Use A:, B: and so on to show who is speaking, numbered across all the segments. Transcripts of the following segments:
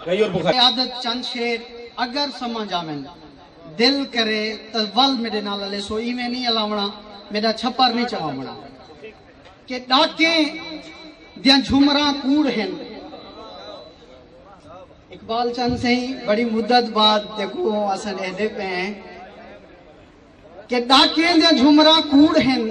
A: قیادت چند شیر اگر سمجھ آون دل کرے تاں ول میڈے نال الیسو ایویں نی الاونا میڈا چھپر نی چواونا کہ ڈاکیں دیاں جھمراں کوڑ ہن اقبال چند سہی بڑی مدت بعد دیکھو اساں ڈہدے پے ہیں کہ ڈاکیں دیاں جھمراں کوڑ ہن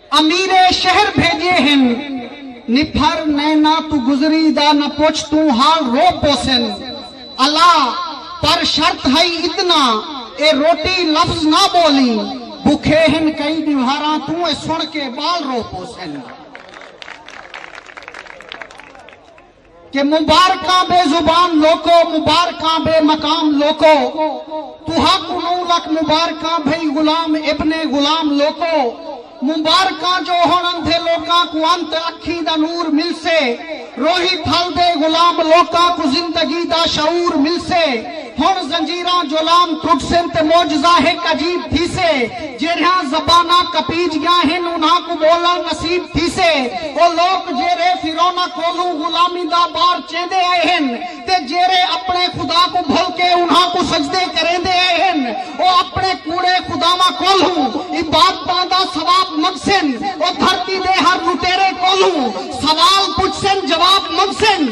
A: امیر شہر بھیجے ہن نپھر نینا توں گزری دا نہ پچھ توں حال رو پوسن الا پر شرط ہئی اتنا اے روٹی لفظ نہ بولیں بکھے ہن کئی ڈیوہاراں توں اے سن کے بال رو پوسن۔ کہ مبارکاں بے زبان لوکو مبارکاں بے مقام لوکو تہاکوں نو لکھ مبارکاں بھئی غلام ابن غلام لوکو مبارکاں جو ہن اندھے لوکاں کوں انت اکھیں دا نور ملسے روہی پھل دے غلام لوکاں کوں زندگی دا شعور ملسے ہݨ زنجیراں جولام ٹرٹسن تے معجزہ ہک عجیب تھیسے۔ جیرھیاں زباناں کپیج ڳیاں ہن انھاں کوں ٻولݨ نصیب تھیسے۔ او لوک جیرھے فرعوناں کولھوں غلامی دا بار چیندے آئے ہن تے جیرھے اپݨے خدا کوں بھل کے انھاں کوں سجدے کریندے آئے ہن او اپݨے کوڑے خداواں کولھوں عبادتاں دا ثواب منگسن۔ او دھرتی دے ہر لٹیرے کولھوں سوال پچھسن جواب منگسن۔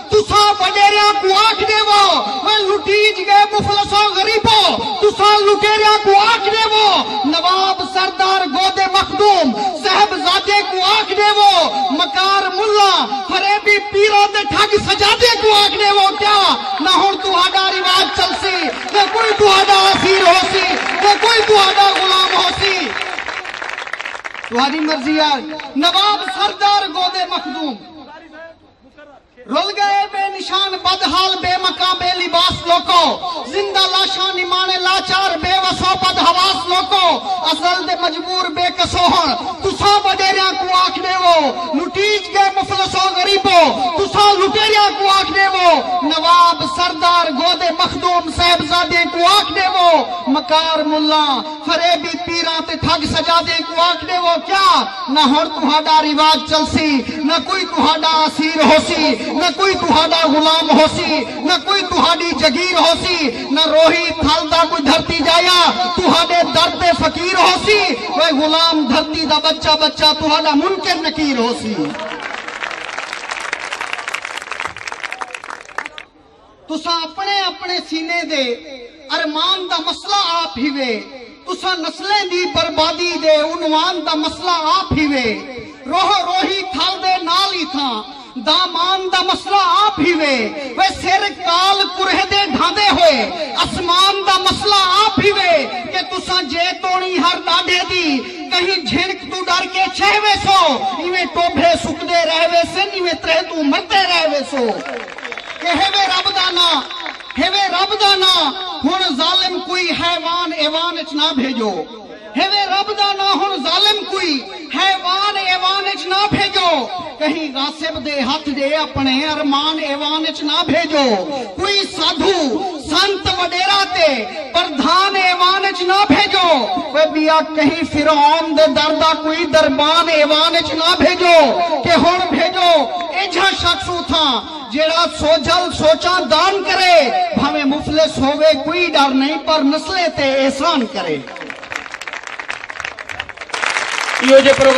A: تساں وݙیریاں کوں آکھ ݙیوو میں لٹیج ڳئے مفلساں غریبو تساں لٹیریاں کوں آکھ ݙیوو نواب سردار گودے مخدوم صاحبزادیاں کوں آکھ ݙیوو مکار ملا فریبی پیراں تے ٹھڳ سجادیاں کوں آکھ ݙیوو کیا نہ ہݨ تہاݙا رواج چلسی نہ کوئی تہاݙا اسیر ہوسی نہ کوئی تہاݙا غلام ہوسی تہاݙی مرضی آ نواب سردار گودے مخدوم رل گئے بے نشان بد حال بے مکاں بے لباس لوکو زندہ لاشاں نمانے لاچار بے وسو بد حواس لوکو ازل دے مجبور بے کسو ہن تساں وڈیریاں کوں آکھ ڈیوو لٹیج گئے مفلسو غریبو تساں لٹیریاں کوں آکھ ڈیوو نواب سردار گودے مخدوم صاحبزادیں کوں آکھ ڈیوو مکار ملاں فریبی پیراں تے ٹھگ سجادیں کوں آکھ ݙیوو کیا نہ ہݨ تہاݙا رواج چلسی نہ کوئی تہاݙا اسیر ہوسی نہ کوئی تہاݙا غلام ہوسی نہ کوئی تہاݙی جگیر ہوسی نہ روہی تھل دا کوئی دھرتی جایا تہاݙے در تے فقیر ہوسی اوئے غلام دھرتی دا ٻچہ ٻچہ تہاݙا منکر نکیر ہوسی۔ تساں اپݨے اپݨے سینے دے ارمان دا مسئلہ آپ ہیوے تساں نسلیں دی بربادی دے عنوان دا مسئلہ آپ ہیوے روح روہی تھل دے نال ای تھاں دامان دا مسئلہ آپ ہیوے وے سر کال کرہ دے ڈھاندے ہوئے اسمان دا مسئلہ آپ ہیوے کہ تساں جے توڑی ہر ڈاڈھے دی کہیں جھنک تو ڈر کے چھہ وے سو ایویں ٹوبھے سکدے رہ وے سن ایویں ترہ تو مردے رہ وے سو کہ ہوے رب دا ناں ہوے رب دا ناں ہن ظالم کوئی حیوان ایوان اچ نہ بھیجو ہوے رب دا ناں ہن ظالم کوئی حیوان ایوان اچ نہ بھیجو کہیں غاصب دے ہتھ دے اپنے ارمان ایوان اچ نہ بھیجو کوئی سادھو سنت وڈیرا تے پردھان ایوان اچ نہ بھیجو۔ اوہ بیا کہیں فرعون دے در دا کوئی دربان ایوان اچ نہ بھیجو کہ ہن بھیجو ایجھا شخص اتھاں جیہڑا سوجھل سوچاں دان کرے بھانویں مفلس ہووے کوئی ڈر نئیں پر نسلیں تے احسان کرے۔ ایہو جے پروگرام۔